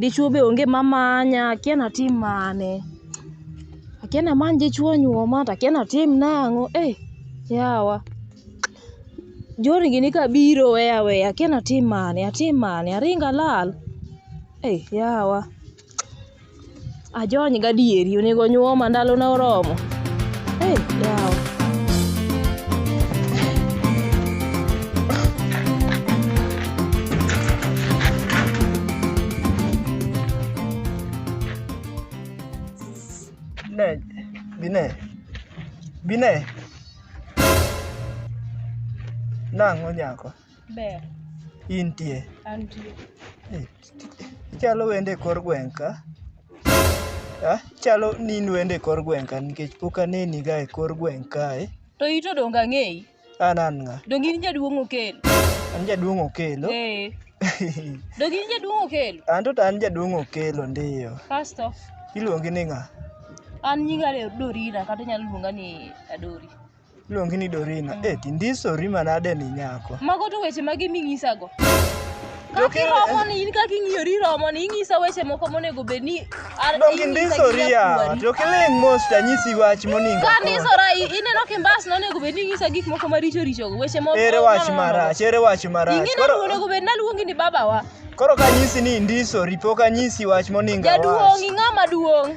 Dichuo be onge ma manya, akia ni atim mane. Akia ni amany dichuo onyuoma to akia ni atim nang'o. Ei yawa! Journey gini ka biro oweya aweya, akia ni atim mane, atim mane, aring alal? Ei yawa! Ajony gadieri onego onyuoma ndalona oromo. Hey, yawa. Bine, bine, bine. Nang' onyako. Ber. Intie. Antie. Eh, ichalo wende e kor gweng' ka. Ah, chalo ni in wende e kor gweng' ka nikech pok aneni ga e kor gweng' kae. To ito donga ng'eyi. An an ng'a? Donge in jaduong' Okello? An jaduong' Okello? Eh. Donge in jaduong' Okello? An to an jaduong' Okello ndiyo. Kasto? Iluongi ni ng'a? An nyinga Dorina kata inyalo luonga ni Adori. Iluongi ni Dorina. Mm. Eh, tindisori manade ni nyako. Mago to weche mage minyisago? Kaki romo ni in kaki ng'iyori romo ni ing'isa weche moko monego bed ni indisori yawa to kiling' mos to anyisi wach moningo ka ndisora ineno kimbas nonego bed ni ing'isa gik moko maricho richogo weche moko ere wach marach ere wach marach ing'eyo onego bed naluongi ni babawa koro kanyisi ni indisori pok anyisi wach moningo jaduong' ing'ama duong'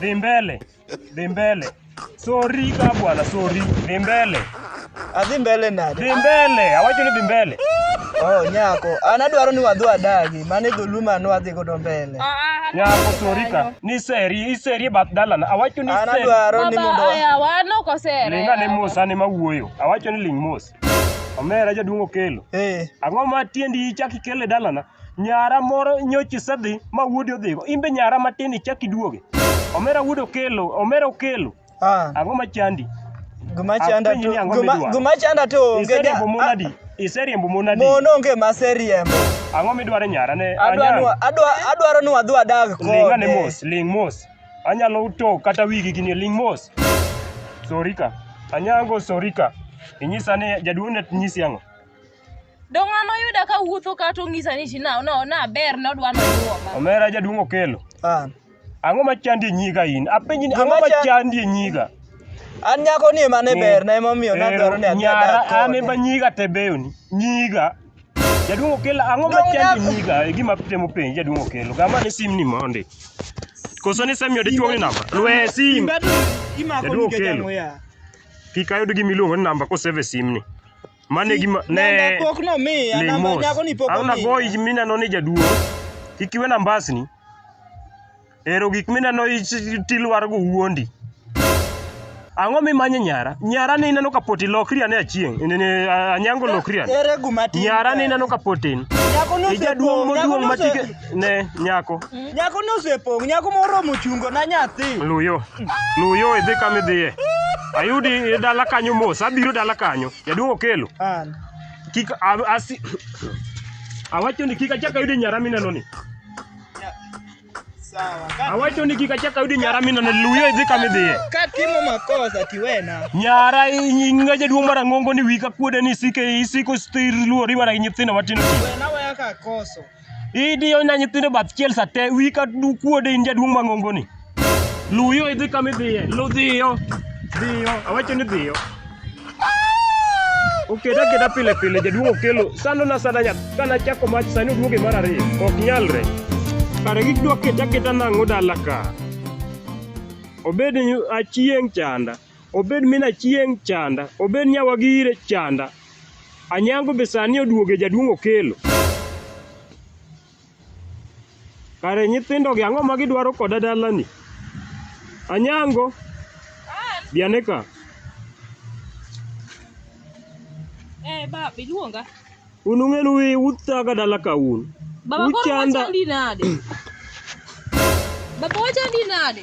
Dhimbele. Dhimbele. Sorry ka bwana, sorry. Dhimbele. Adhi mbele nade? Dhimbele. Awacho ni dhimbele. Oh, nyako. An adwaro ni wadhi wadagi. Mane dholuo mane wadhi godo mbele. Nyako sorry ka. Ni seri, iseri bath dalana. Awacho ni An seri. adwaro ni mondo Baba, aya, wan ok osere. Ling ane mos ane ma wuoyo. Awacho ni ling mos. Omera jaduong' okelo. Eh. Ang'o ma tiendi ichak ikele dalana? Nyara moro nyocha isedhi ma wuodi odhigo. In be nyara matin ichak iduoge. Omera wuod Okelo, Omera Okelo. Ah, Ang'o ma chandi? gima chanda Apenji to ni ang'o gima, midwaro? gima chanda to onge ja- Iseriembo mon ah, adi? Iseriembo mon adi? mon onge maseriembo. Ang'o midwaro nyara ne? Adwa Anyang'? nwa- adwa- adwaro ni wadhi wadag Ling' ane kode. mos, ling' mos. Anyalo to kata wigi gini ling' mos. Sorika. Anyango sorika. Inyisa ni jaduong' ne nyisi ang'o? Dong' an oyuda ka wuotho ka to ng'isa ni na no na ber no dwa no duoma. Omera jaduong' okelo. Ah. Ang'o ma chandi e nyiga in? Apenji ni ang'o ma chandi e nyiga? An nyako ni mane ber na emomiyo na dwaro ni adhi adak kode. An emba nyiga te beyo ni. Nyiga. Jaduong' okelo ang'o ma chandi e nyiga? E gima temo penji jaduong' okelo. Gama ni sim ni mondi. Koso ni semi odi chuo ni namba. Lwe sim. Jaduong' okelo. Kik ayud gimiluongo ni namba koseve sim ni. Mane gi ne Namba pok nomiya, namba Lemos. nyako ni pok Ang' nago omiya. ich mineno ni jaduong'. Kik iwe nambasni. Ero gik mineno ich- tilwargo wuondi. Ang'o mimanye nyara? Nyara ni ineno ka poti lokri ane achieng'. Ne- ne- a- Anyango lokri ane. Ere guma tin? Nyara ni ineno ka potin. Nyako no Ijaduong' osepo, nyako moduong' no ma ose- chike- ne nyako Nyako no osepong', nyako moromo chungo na nyathi. luyo luyo idhi kama idhiye ayudi e dala kanyo mos abiro dala kanyo jaduong' okelo An. kik a- asi awacho ni kik achak ayudi nyara mineno ni Sawa. Ka- awacho ni kik achak ayudi nyara mineno ni luyo idhi kama idhiye Ka timo makosa tiwena. nyara ing'a jaduong' marang'ongo ni wika kuode ni isike isiko stir luori mana gi nyithindo matindo Wena waya ka koso. idiyo na nyithindo bath chiel sa te wi ka du kuode in jaduong' mang'ongo ni luyo idhi kama idhiye lu dhiyo dhiyo awacho ni dhiyo okeda keda pile pile jaduong' okelo sando na sanda nyath kana chako mach sani oduoge mar ariyo ok nyalre kare gidwa keta keta nang'o dala ka obed achieng' chanda obed min achieng' chanda obed nyawa gire chanda Anyango be sani oduoge jaduong' Okello. Kare nyithindogi ang'o ma gidwaro koda dalani? Anyango, bi ane ka. Eh, baba, iluonga. Un ung'enu wi- uthaga dala ka un. Baba koro Uchanda. wachandi nade? Baba wachandi nade?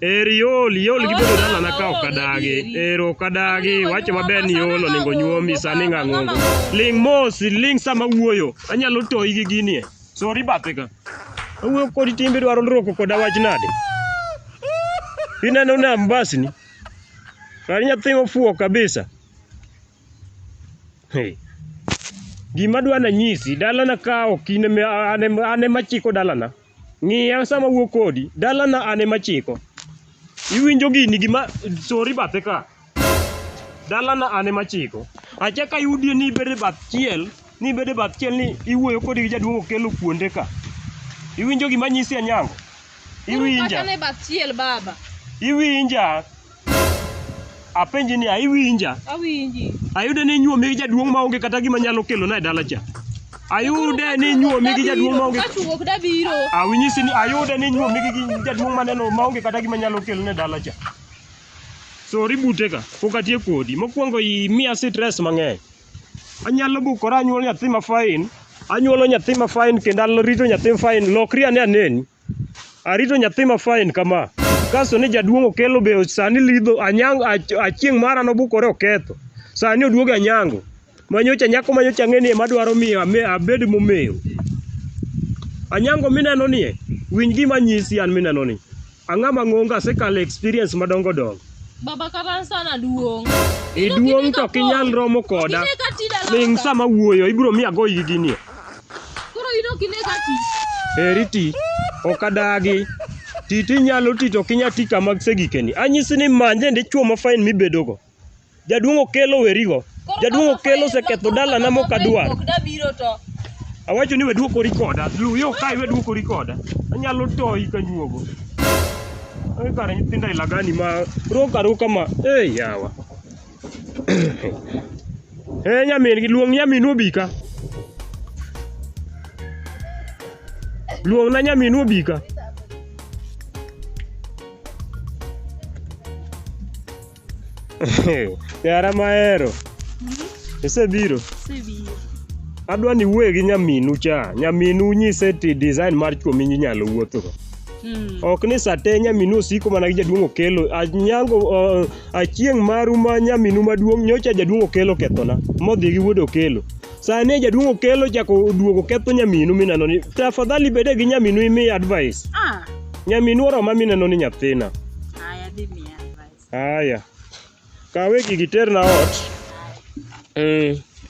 Er iol, iol gi bedo dalana ka ok adagi. Er ok adagi, wacho maber ni iol onego nyuomi sani ng'ang'ongo. Ling' mos, ling' sama wuoyo. Anyalo toyi gi gini e. Sori bathe ka. Awuoyo kodi timbe dwaro lroko koda wach nade? Ineno na mbasni? Kar nyathi ofuo kabisa. Hey. Gima dwana nyisi, dalana ka ok in ema chiko dalana. Ng'iya sama awuo kodi. Dalana an ema achiko. Iwinjo gini gima sori bathe ka. Dalana an ema achiko. Achako ayudie ni ibedo e bath chiel, ni ibedo e bath chiel ni iwuoyo kodi gi jaduong' Okello kuonde ka. Iwinjo gima anyisi Anyango? Koro Iwinja. pachane bath chiel baba. Iwinja. Apenji ni aiwinja? Awinji. Ayude ni inyuomi gi jaduong' ma onge kata gima nyalo kelo na e dala cha. Ayude ni inyuomi gi jaduong' ma onge Kachuok da biro. Awinyisi ni ayude ni inyuomi gi gi jaduong' ma neno ma onge kata gima nyalo kelo na e dala cha. So ribute ka pok atiek kodi. Mokwongo imiya stress mang'eny. Anyalo bukora anyuol nyathi ma fine, anyuolo nyathi ma fine kendo arito nyathi ma fine. Lokri ane aneni. Arito nyathi ma fine kama. Kasto ni jaduong' okelo be sani lidho anyango achieng' mara nobukore oketho. Sani oduogo anyango. Manyocha nyako manyocha ang'eni ema dwaro miyo abed momewo. Anyango mineno ni winj gima nyisi an mineno ni. Ang'a mang'ongo asekalo experience madongo dongo. Baba kata sana duong'. Iduong' to kinyal romo koda. Ling' sama wuoyo ibiro miya goyi gi ginie. Koro in ok ine ka ti. Eri ti. Ok adagi. Ti ti nyalo ti to kinya ti kama gisegikeni. Anyisi ni manje ndi chuo ma fain mibedogo. Jaduong' okelo werigo. Koro Jaduong' kama okelo fain- oseketho koro dalana kama mok fain adwar. pok dabiro to. Awacho ni weduokori koda. Lu yo kai weduokori koda. Anyalo toyi ka nyuogo. Ai kare nyithindo aila gani ma roka roka ma. Ei yawa. Eh nyamin gi luong nyaminu obi ka. Luong na nyaminu obi ka. Yara mahero. Isebiro. Sibiro. Adwa ni wuoye gi nyaminu cha. Nyaminu nyise ti design mar chwo minyalo wuothogo. Mm. ok ni sate nyaminu osiko mana gi jaduong' okelo anyango uh, Achieng' maru ma nyaminu maduong' nyocha jaduong' okelo kethona modhi gi wuod okelo sani jaduong' okelo chako oduogo ketho nyaminu mineno ni tafadhali bede gi nyaminu imi advice Ah, nyaminu oroma mineno ni nyathina haya dhi miya advice. haya kawe gigi terna ot mm.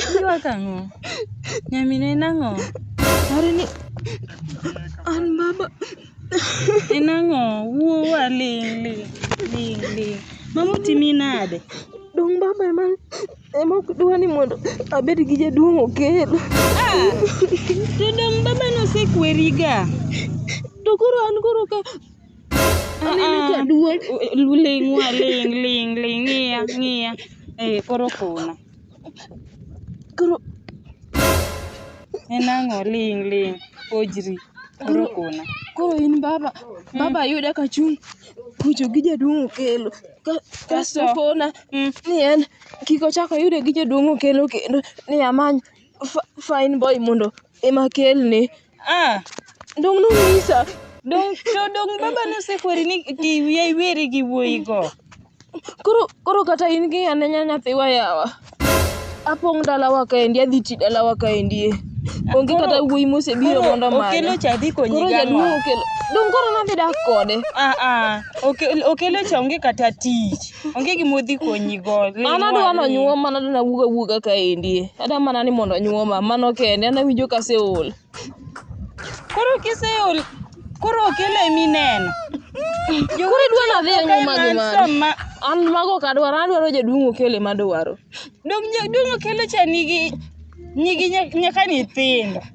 Iywak ang'o? Nyamino en ang'o? Are ni an mama. En ang'o? Wuowa ling' ling' ling' ling'. Mama otimi nade? Dong baba ema ema ok dwa ni mondo abed gi jaduong' okel. Ah, to dong baba nosekweriga. To koro an koro ka Aneno ka duong'. Ling' wa ling' ling' ling' ng'iya ng'iya. Eh koro kona. Koro en ang'o ling' ling' ojri koro kona. Koro in baba, baba yuda ka chung' kucho gi jaduong' okelo. Ka- Kasto Kasto? kona Mm. ni en kik ochak oyude gi jaduong' okelo kendo ni amany fa- fine boy mondo ema kelne. Ah, dong nonyisa. Dong to dong baba nosekweri ni ki wiya iweri gi wuoyi go. Koro koro kata in gi anenya nyathiwa yawa. Apong' dalawa kaendi adhi ti dalawa kaendi. eh. Onge Koro- kata wuoyi mosebiro Koro mondo omanya. Okelo cha dhi konyi Koro gang'o? jaduong' okelo. Dong koro nadhi dak kode. Ah ah, oke- okelo cha onge kata tich. onge gima odhi konyi go ling' an adwa wang'i. nonyuom mana adwa nawuog awuoga kaendi adwa mana ni mondo onyuoma mano kende an awinjo ka aseol koro kiseol koro okele mineno koro idwa nadhi anyuoma gi mano an mago ok adwaro adwaro jaduong' okele madwaro dong' dong' okele cha nigi nigi nya- nyaka nyithindo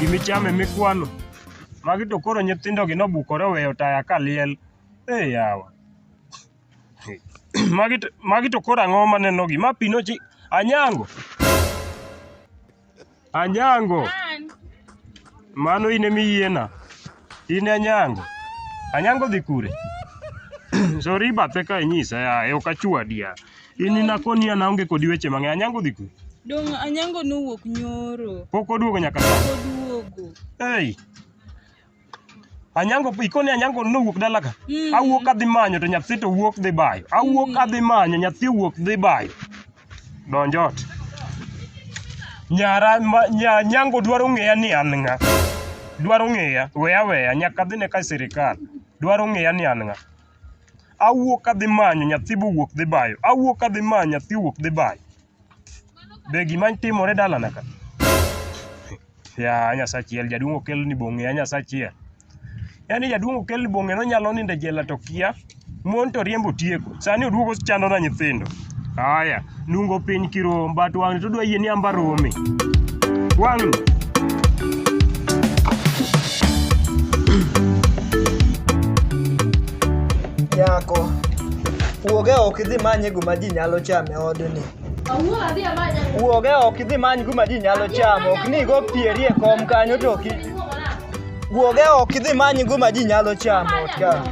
Gimi chame mikwano. Magi to koro nyithindogi nobukore oweyo taya ka liel. Ee yawa. Magi to, magi to koro ang'o manenogi? Ma pi nochi... Anyango! Anyango, An, mano in ema iyiena. In e Anyango. Anyango dhi kure? Sori bathe ka inyisa yaye, ok achwadi ya. In inakoni an aonge kodi weche mang'eny. Anyango dhi kure? dong' Anyango nowuok nyoro. Pok oduogo nyaka sani. Oduogo. Hey, Anyango ikoni Anyango nowuok dala ka. Mm. Awuok adhi manyo to nyathi to wuok dhi bayo. Awuok mm. adhi manyo nyathi wuok dhi bayo. Donj ot. Nyara ma, nya, Anyango dwaro ng'eya ni an ng'a. Dwaro ng'eya, weya weya nyaka dhi ne ka sirikal. Dwaro ng'eya ni an ng'a. Awuok adhi manyo nyathi bo wuok dhi bayo. Awuok adhi manyo nyathi wuok dhi bayo. Be gima timore dalana ka? Ya nyasachiel jaduong' okel ni bong'e ya nyasachiel. Yaani jaduong' okel ni bong'e nonyalo nindo e jela to kia. Mon to riembo tieko. Sani oduogo chando na nyithindo. Haya, nungo piny kirom but wang'ni to dwa yie ni amba romi. Wang'ni. Yako. Wuoge ok idhi manye gima ji nyalo chame. e odni. Wuog e oko idhi many kuma ji nyalo chamo, ok ni igo pieri e kom kanyo to ok i- Wuog e oko idhi many kuma ji nyalo chamo ot ka.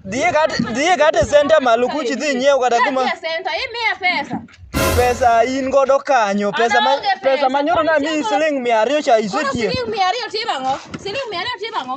Dhiye kata dhiye kata e center malo kuch idhi nyiew kata kuma Senta, imiya pesa. pesa in godo kanyo, pesa ma Ana onge pesa pesa, manyoro na pod mi siemo. siling 200 cha Koro isetieko. siling mia ariyo timo ang'o? Siling mia ariyo timo ang'o?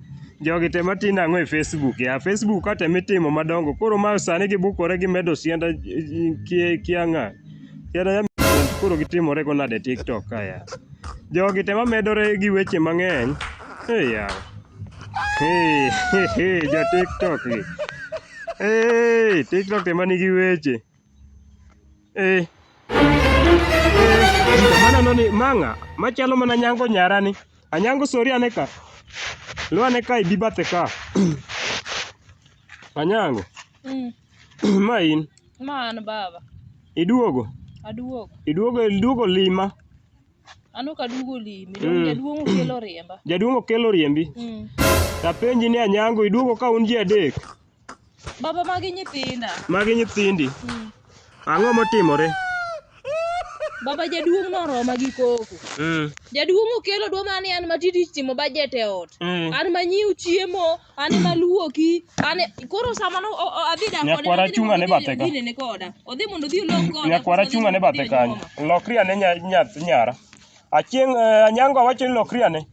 Jogi te matimo ang'o e Facebook ya? Facebook ka te mitimo madongo. Koro ma sani gibukore gimedo sianda kia kia ng'a. Sianda ya koro gitimore go nade TikTok ka ya. Jogi te mamedore gi weche mang'eny. Hey ya. Hey, hey, hey, jo TikTok gi. Hey, TikTok te manigi weche. Eh. Mana noni mang'a machalo mana nyango nyara ni. Anyango sori ane ka. Lu ane ka ibi bathe ka. Anyango. Mm. Ma in. Ma an baba. Iduogo? Aduogo. Iduogo iduogo lima. Ano ka duogo limi. Mm. Jaduong' okelo riemba. Jaduong' okelo riembi. Mm. Tapenji ni Anyango iduogo ka un ji adek. Baba magi nyithinda. Magi nyithindi. Mm. Ang'o motimore? Baba jaduong' noroma gi koko. Mm. Jaduong' okelo dwa mane an matiti timo bajet e ot. Mm. An manyiu chiemo, an maluoki, an koro sama no adhi da koda. Nyakwara chunga ne bathe ka. Dine ne koda. Odhi mondo odhi olok koda. Nyakwara chunga ne bathe kanyo. Lokri ane nyara. Achieng' eh, Anyango awacho ni lokri ane.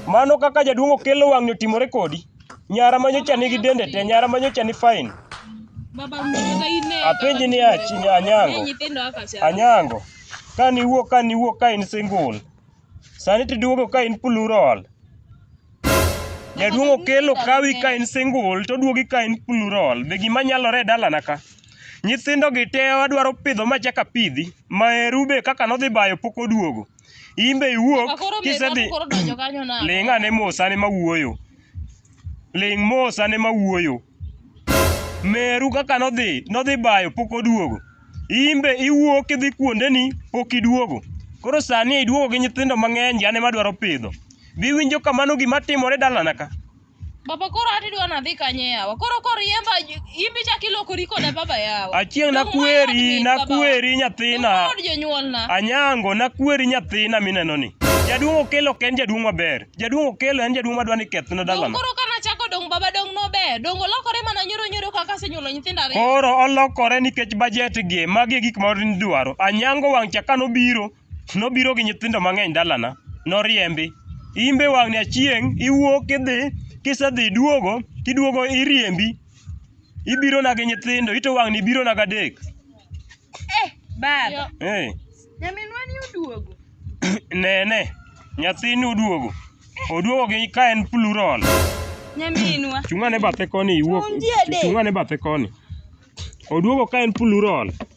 Mano kaka jaduong' okelo wang'ni otimore kodi. Nyara ma nyocha nigi dende te, nyara ma nyocha ni fine. Baba mtoto ine. Apenji ni achi ni Anyango. Nyithindo haka cha. Anyango, ka niwuok ka niwuok ka in single. Sani tiduogo ka in plural. Jaduong' Okello kawi ka in single to duogi ka in plural. Be gima nyalore e dalana ka. Nyithindo gi te adwaro pidho ma chaka pidhi. Maheru be kaka nodhi bayo pok oduogo. In be iwuok Akoro meru kisedhi hapo koro donjo kanyo na. ling' ane mos ane ma wuoyo. Ling' mos ane ma wuoyo. Meru kaka nodhi, nodhi bayo pok oduogo. In be iwuok idhi kuondeni pok iduogo. Koro sani iduogo gi nyithindo mang'eny gi an ema adwaro pidho. Biwinjo ka mano gima timore dalana ka. Baba koro ati dwa nadhi kanye yawa. Koro kor yemba imbi chak ilokori koda baba yawa. Achieng' nakweri, nakweri nyathina. Kod jonyuolna. Anyango nakweri nyathina mineno ni. Jaduong' Okello ok en jaduong' maber. Jaduong' Okello en jaduong' madwa ni kethna dalana. Koro ka nachako dong' baba dong' nober. Dong' olokore mana nyoro nyoro kaka asenyuolo nyithindo ariyo. Koro olokore nikech bajet gi. Magi e gik ma nidwaro. Anyango wang' cha ka nobiro, Nobiro gi nyithindo mang'eny dalana, noriembi. Imbe wang'ni achieng' iwuok idhi, kisedhi iduogo, kiduogo iriembi. Ibirona gi nyithindo, ito wang'ni ibirona gadek. Eh, baba. Eh, Nyaminwa ni oduogo. nene, nyathini oduogo. Oduogo gi ka en plural. Nyaminwa. Chung'ane bathe koni iwuok. Ondiek. Chung'ane bathe koni. Oduogo ka en plural.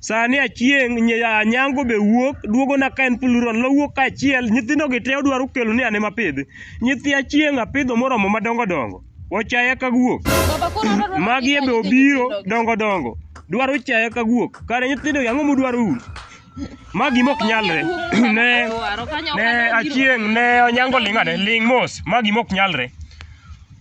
Sani achieng' nya- anyango be wuok duogona ka en plural nowuok kaachiel nyithindo gi te odwaro kelo ni ane mapidhi nyithi achieng' apidho moromo madongo dongo ochaya ka guok Baba koro adwa dwaro magi ni ebe kanyakla obiro nyithindo. dongo dongo dwaro chaya ka guok kare nyithindo gi ang'o mudwaro un ma gima ok nyalre ne Dwaro kanyakla ne biro. achieng' ne onyango ling' ane ling' mos ma gima ok nyalre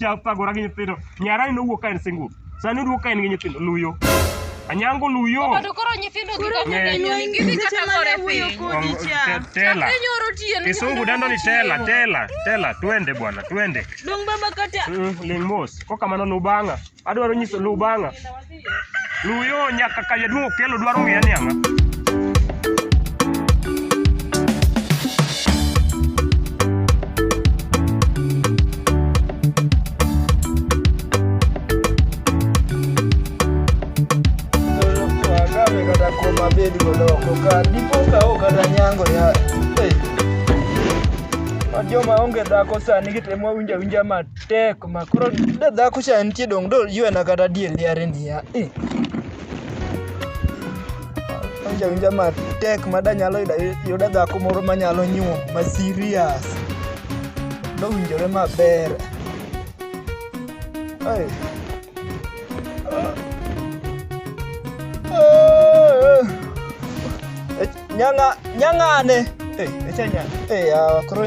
cha thagora gi nyithindo nyarani nowuok ka en single sani oduogo ka en gi nyithindo luyo anyango luyo Koro koro nyithindo gi kaka Ng'e. nyithindo gidhi kata gore piny. Kodi cha. Te- tela Piny oro tiyo ni kisungu dendo ni tela tela tela twende bwana twende Dong baba kata Mm, ling mos kokamano luw bang'a adwaro nyiso luw bang'a Luyo nyaka ka jaduong' okelo dwaro ng'eya ni ang'a. Joma onge dhako sani gitemo winja winja mat Tek ma koro da dhako cha nitie dong' do yuena kata diel yare niya. Eh. Awinja winja matek ma da nyalo yuda yuda dhako moro ma nyalo nyuom ma serious. Dowinjore maber. Ai. Ah. Nyanga nyangane. Eh, echa nyanga. Eh, ah, koro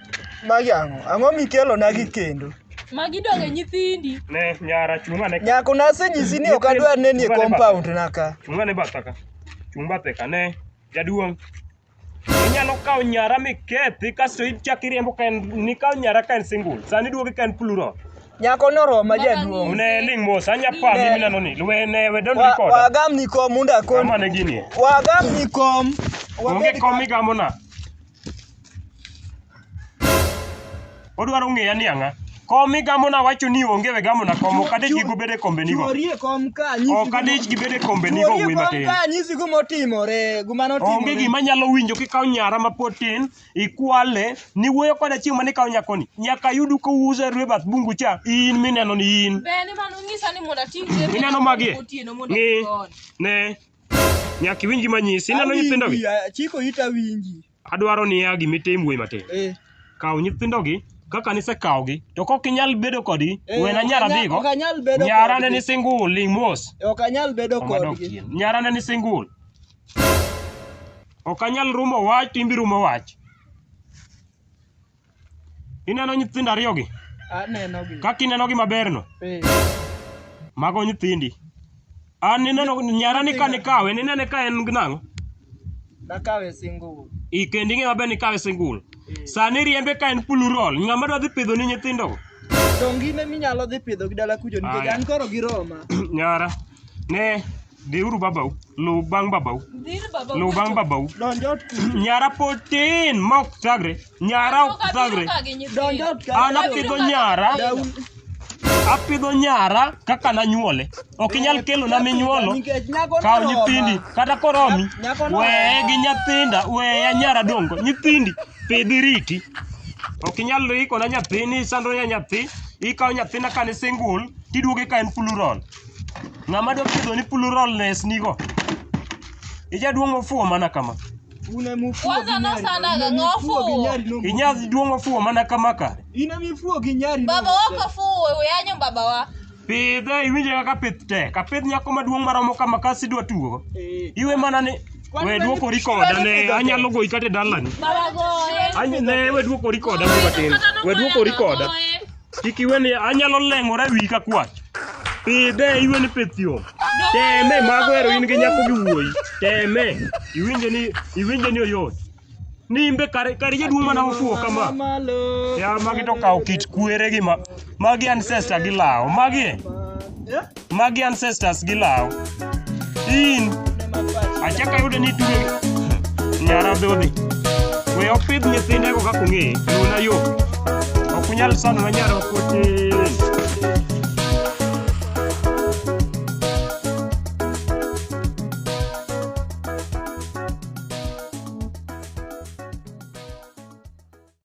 Magi ang'o? Ang'o mikelonagi kendo? Magi donge nyithindi. Ne nyara chunga ne. Nyako nasenyisi ni ok adwar neni e compound na ka. Chunga ne batha ka. Chung bathe ka ne. Jaduong'. Inyalo kawo nyara mikethi kasto ichak iriembo ka en nikawo nyara ka en single. Sani duogi ka en plural. Nyako noroma jaduong'. Ne ling mos anya pa mimi nano ni. Luwe ne we don't record. Wagam ni kom unda kon. Kama ne gini. Wagam ni kom. Onge kom igamo na. Odwaro ng'eya ni ang'a. Kom migamo nawacho ni onge we gamo na kom ok adich gi gubede kombenigo. Chuorie kom ka anyisi Ok guma- adich gi bede kombenigo Chuorie wuoyi kom matin. ka anyisi guma otimore, guma Onge notimore. gima nyalo winjo kikawo nyara mapod tin, ikwale, niwuoyo koda chieng' mane ikawo nyakoni. Nyaka yudu kouso e rwe bath bungu cha, in mineno ni in. Be ne mano nyisa ni mondo ating' Mineno magi? otieno mondo Ng'i. ikon. Ne. Nyaka iwinj gima nyisi, ineno nyithindogi? Chiko ita winji. Adwaro ni ya gima itim wuoyi matin. Eh. Kaw nyithindogi kaka nisekawogi to kok inyal bedo kodgi eh, wena nyara dhigo nyara ne ni single ling mos eh, ok anyal bedo kodgi nyara ne ni single ok anyal rumo wach to imbi rumo wach Ineno nyithindo ariyogi? Anenogi. Kaka inenogi maberno? Ee. Mago nyithindi. An ineno nyarani ka nikawe, ninene ka en nang'o? Nakawe single. I kendo ing'e maber ni kawe single. Ee. Sani riembe ka en plural. Ng'ama dwa dhi pidho ni nyithindogo? Donge in ema inyalo dhi pidhogi dala kucho nikech Aya. an koro gi Roma. Nyara. Ne, dhiuru babau, luw bang' babau, Dhir baba. luw bang' babau. Donj ot kuno. Nyara pod tin ma ok thagre, nyara ok thagre. Donj ot ka. An apidho nyara, Daun. apidho nyara kaka nanyuole. Ok inyal kelona minyuolo, Nikech nyako kaw noroma. nyithindi, kata koromi. Nyako noroma. Weye gi nyathinda, weya nyara dongo. Nyithindi, pidhi riti. Ok inyal ikona nyathini, isandona nyathi, ikawo nyathina ka ne single, tiduoge ka en fuluron. Ng'ama dwa pidho ni pluralness nigo. Ijaduong' ofuwo mana kama. Una mufuo Kwanza gi nyari. nasana Una ga mifuo gi ngofu. nyari no mufuo. Inyadhi duong' ofuwo mana kama kare. Ina mifuo gi nyari no Baba mufuo. wako fuwe we anyo baba wa. Pidhe iwinje kaka pith tek. Apidh nyako maduong' maromo kama kasi idwa tugo. Eh, Iwe mana ni Kwani we duoko mani- rikoda mani ne pidho anyalo goyi kata e dalani. Baba goye. Anyi ne we duoko rikoda mbatin. We duoko rikoda. Kik iwe ni anyalo leng'ora ewi ka kwach. Pidhe iwe ni pith yo. Teme mago ero in gi nyako gi wuoyi. Teme. Iwinje ni iwinje ni oyot. Nimbe kare kare jaduong' mana ofuwo kama. Ya magi to kawo kit kwere gi ma magi ancestor gi lawo. Magi e. Magi ancestors gi law. In achaka yudo ni tuwe nyara dhodhi. We opidh nyithinde go kaka ong'e, nuna yo. Ok unyal sano na nyara kote.